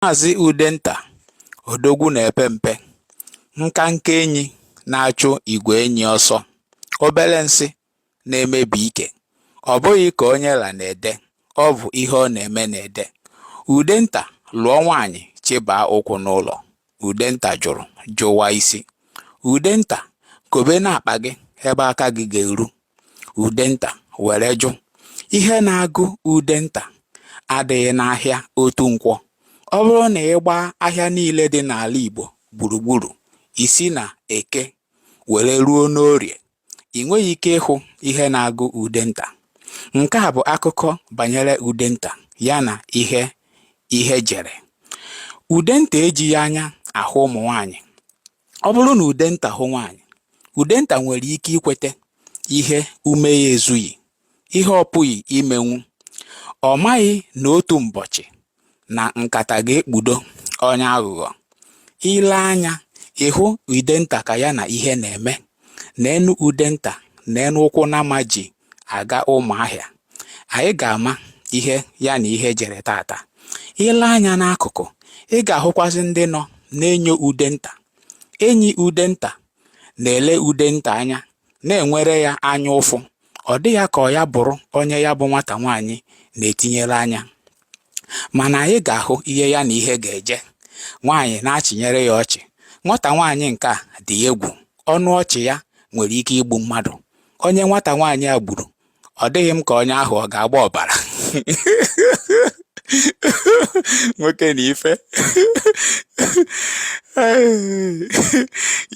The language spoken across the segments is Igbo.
Maazị Udenta odogwu na-epe mpe, nkenke enyi na-achụ igwe enyi ọsọ, obere nsị na-emebi ike. Ọ bụghị ka onye la na-ede, ọ bụ ihe ọ na-eme na-ede. Udenta lụọ nwaanyị chịbaa ụkwụ n'ụlọ. Udenta jụrụ, jụwa isi. Udenta, kobe n'akpa gị ebe aka gị ga-eru. Udenta were jụ, Ihe na-agụ Udenta adịghị n'ahịa otu nkwọ. Ọ bụrụ na ị gbaa ahịa niile dị n'ala Igbo gburugburu, i si n'Eke were ruo n'Orie, i nweghị ike ịhụ ihe na-agụ Udenta. Nke a bụ akụkọ banyere Udenta ya na ihe ihe jere. Udenta ejighị anya ahụ ụmụ nwaanyị. Ọ bụrụ na Udenta hụ nwaanyị, Udenta nwere ike ikweta ihe ume ya ezughị, ihe ọ pụghị imenwu. Ọ maghị na otu mbọchị na nkata ga-ekpudo onye aghụghọ. I lee anya ị hụ Udenta ka ya na ihe na-eme. Neenụ Udenta, neenụ ụkwụ nama ji aga Ụmụahịa anyị ga-ama ihe ya na ihe jere tata i lee anya n'akụkụ ị ga-ahụkwazị ndị nọ na-enyo Udenta enyi Udenta na-ele Udenta anya na-enwere ya anya ụfụ ọ dị ya ka ọ ya bụrụ onye ya bụ nwata nwaanyị na-etinyere anya mana anyị ga-ahụ ihe ya na ihe ga-eje nwaanyị na-achịnyere ya ọchị nwata nwaanyị nke a dị egwu ọnụ ọchị ya nwere ike igbu mmadụ onye nwata nwaanyị a gburu ọ dịghị m ka onye ahụ ọ ga-agba ọbara nwoke na ife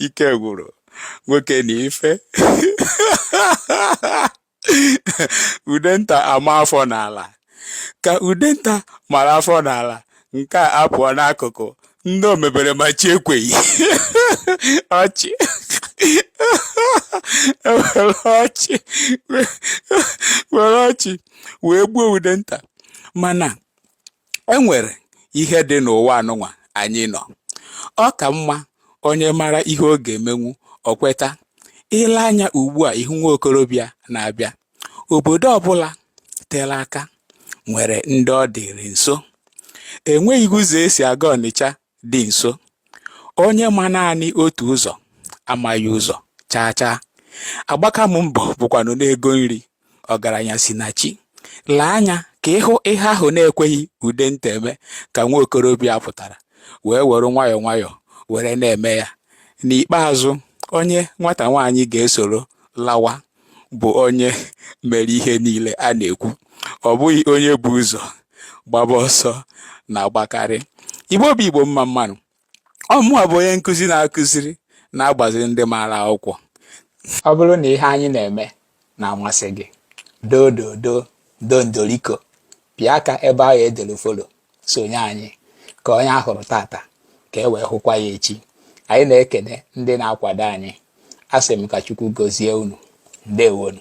ike gwụrụ nwoke na ife udenta amaa afọ n'ala ka udenta mara afọ n'ala nke a apụọ n'akụkụ ndị omebere ma chi ekweghị ọchị were ọchị wee gbuo udenta mana e nwere ihe dị n'ụwa anụnwa anyị nọ ọ ka mma onye mara ihe ọ ga-emenwu o kweta i lee anya ugbu a ị hụ nwa okorobịa na-abịa obodo ọbụla tere aka nwere ndị ọ dịrị nso enweghị ụzọ e si aga ọnịcha dị nso. Onye ma naanị otu ụzọ amaghị ụzọ chaa chaa. Agbaka m mbọ bụkwanụ n'ego nri ọgaranya si na chi. Lee anya ka ị hụ ihe ahụ na-ekweghị Udenta eme ka nwa okorobịa pụtara wee were nwayọọ nwayọọ were na-eme ya. N'ikpeazụ, onye nwata nwaanyị ga-esoro lawa bụ onye mere ihe niile a na-ekwu ọ bụghị onye bụ ụzọ gbaba ọsọ na-agbakarị igbo bụ igbo mma mma nụ ọ mụwa bụ onye nkụzi na-akụziri na-agbaziri ndị maara akwụkwọ ọ bụrụ na ihe anyị na-eme na-amasị gị doo doo doo doo ndoriko pịa aka ebe ahụ e dere follow sonye anyị ka onye a hụrụ tata ka e wee hụkwa ya echi anyị na-ekene ndị na-akwado anyị asị m ka Chukwu gozie unu ndewo nụ